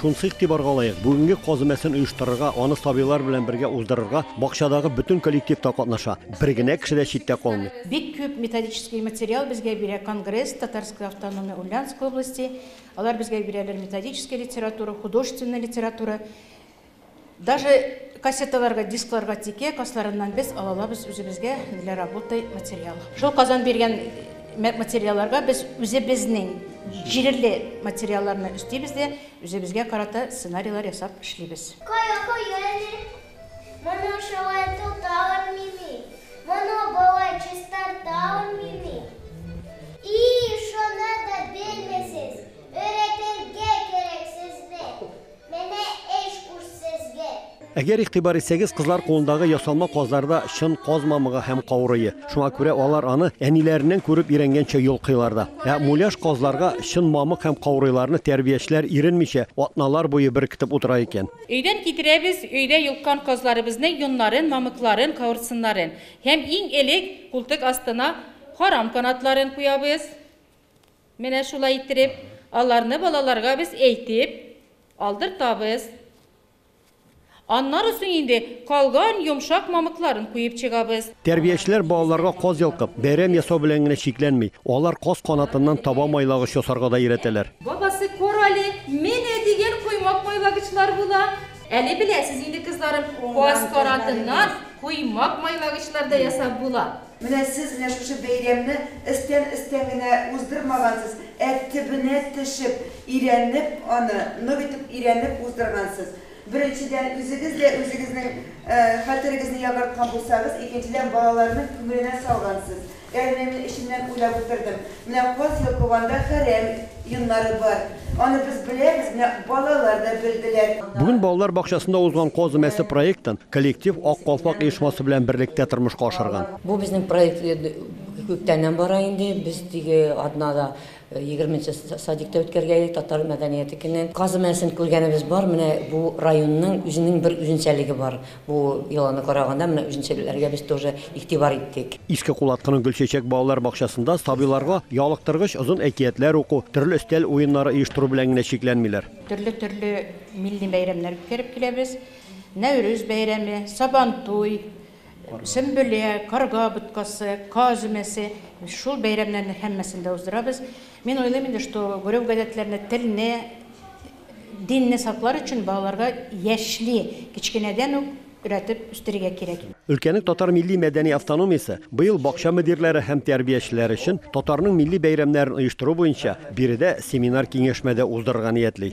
Шунысы игътибарга лаек, бүгенге каз өмәсен оештырырга, аны сабыйлар белән бергә уздырырга бакчадагы бөтен коллектив та катнаша, бер генә кеше дә читтә калмый. Бик күп методический материал безгә бирә Конгресс, Татарская автономия Ульяновской области, алар безгә бирәләр методический литература, художественная литература. Даже кассеталарга, дискларга тике касларыннан без алалабыз үзебезгә для работы материал. Шул Казан биргән материалларга без үзебезнең җиреле материалларны өстибез дә үзебезгә карата сценарийлар ясап эшлибез. Кая куяли? Моны шулай тота алмыйми. Моны болай чистарта алмыйми. И шуны да белмисез, өйрәтергә кирәк сезне. Менә эш уш сезгә! Әгәр игътибар итсәгез, кызлар кулындагы ясалма казлар да чын каз мамыгы һәм каурые. Шуңа күрә алар аны әниләреннән күреп өйрәнгәнчә йолкыйлар да. Ә муляж казларга чын мамык һәм каурыйларны тәрбиячеләр иренмичә, атналар буе беркетеп утыра икән. Өйдән китерәбез өйдә йолккан казларыбызның йоннарын, мамыкларын, каурсыннарын. Һәм иң элек култык астына харам канатларын куябыз. Менә шулай иттереп, аларны балаларга без әйтеп алдыртабыз. Аннары соң инде калган йомшак мамыкларын куеп чыгабыз. Тәрбиячеләр балаларга каз йолкып, бәйрәм ясау белән генә чикләнми, алар каз канатыннан таба майлагыч ясарга да өйрәтәләр. Бабасы, кор әле, менә дигән коймак майлагычлар була. Әле беләсез инде, кызларым, каз канатыннан коймак майлагычлар да ясап була. Менә сез менә шушы бәйрәмне эстән-эстән генә уздырмагансыз, ә төбенә төшеп, өйрәнеп аны, нык итеп өйрәнеп уздыргансыз. Беренчедән, үзегез дә үзегезнең хәтерегезне ягарткан булсагыз, икенчедән, балаларның күңеленә салгансыз. Ягъни мин эчемнән уйлап утырдым. Нәкъ каз йолкыганда хәрәм йоннары бар. Аны без беләбез, нәкъ балалар да белделәр. Бүген балалар бакчасында узган Каз өмәсе проектын коллектив Ак калфак оешмасы белән берлектә тормышка ашырган. Бу безнең проект күптәннән бара инде. Без теге атнада егерме нче садикта үткәргән идек, татар мәдәнияте көне. Каз өмәсен күргәнебез бар, менә бу районның үзенең бер үзенчәлеге бар. Бу йоланы караганда, менә үзенчәлекләргә без тоже игътибар иттек. Иске Кулаткының Гөлчәчәк балалар бакчасында сабыйларга ялыктыргыч озын әкиятләр уку, төрле өстәл уеннары оештыру белән генә чикләнмиләр. Төрле-төрле милли бәйрәмнәр үткәреп киләбез. Нәүрүз бәйрәме, Сабантуй, Сөмбелә, Карга боткасы, Каз өмәсе, шул бәйрәмнәрнең һәммәсен дә уздырабыз. Мин уйлыйм инде, что Гөрев гадәтләренә телне, Динне саклар өчен балаларга яшьли кечкенәдән үк өйрәтеп үстерергә кирәк. Өлкәнең татар милли-мәдәни автономиясе быел бакча мөдирләре һәм тәрбиячеләре өчен татарның милли бәйрәмнәрен оештыру буенча биредә семинар-киңәшмә дә уздырырга ниятли.